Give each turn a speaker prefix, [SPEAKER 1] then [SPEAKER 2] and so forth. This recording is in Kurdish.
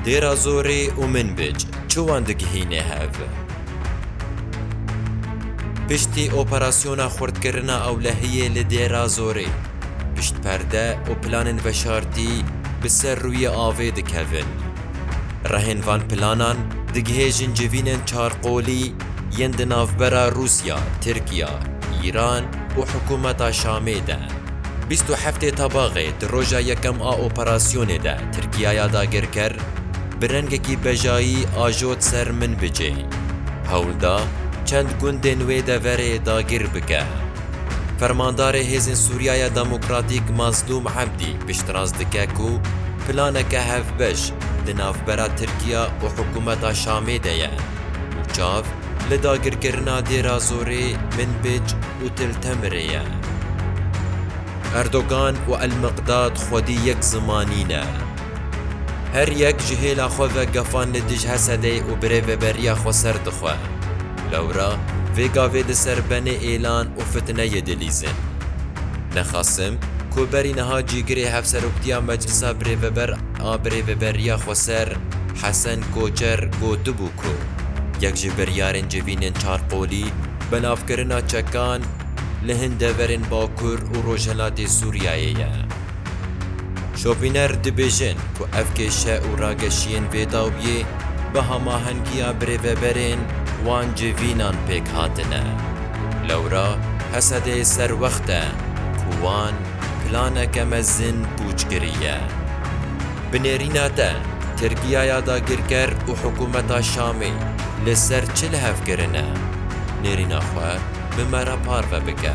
[SPEAKER 1] Dêra Zorê û Minbic çi wan digihîne hev? Piştî operasyona xurtkirina ewlehiyê li Dêra Zorê, pişt perde û planên veşartî bi ser rûyê avê dikevin. Rehên van planan digihêjin civînên çarqolî, yên di navbera Rûsya, Tirkiya, Îran û hikûmeta Şamê de. Bîst û heftê Tabaxê di roja yekem a operasyonê de Tirkiyaya dagirker bi rengekî bejayî ajot ser Minbicê. Hewl da çend gundên wê deverê dagir bike. Fermandarê Hêzên Sûriyaya Demokratîk Mazlûm Ebdî piştrast dike ku planeke hevbeş di navbera Tirkiya û hikûmeta Şamê de ye. û çav li dagirkirina Dêra Zorê, Minbij û Til Temirê ye. Erdogan û El-Miqdad xwedî yek zimanî ne. Her yek ji hêla xwe ve gefan li dij Hesedê û birêveberiya xwe ser dixwe. Lewra vê gavê di ser benê êlan û fitneyê dilîzin. Nexasim ku berî niha cîgirê Hevseroktiya Meclisa Birêveber, A birêveberiya Xweser Hesen Koçer gotibû ku yek ji biryarên civînên çarqolî belavkirina çekan li hin deverên Bakur û Rojhilatê Sûriyeyê ye. Şopîner dibêjin ku ev kêşe û rageşiyên vê dawiyê bi hemahengiya birêveberên wan civînan pêk hatine. Lewra Hesedê serwext e ku wan Planeke mezin pûç kiriye. Bi nêrîna te, Tirkiya ya dagirker û hikûmeta Şamê li ser çi lihev kirine? Nêrîna xwe bi me re parve bike.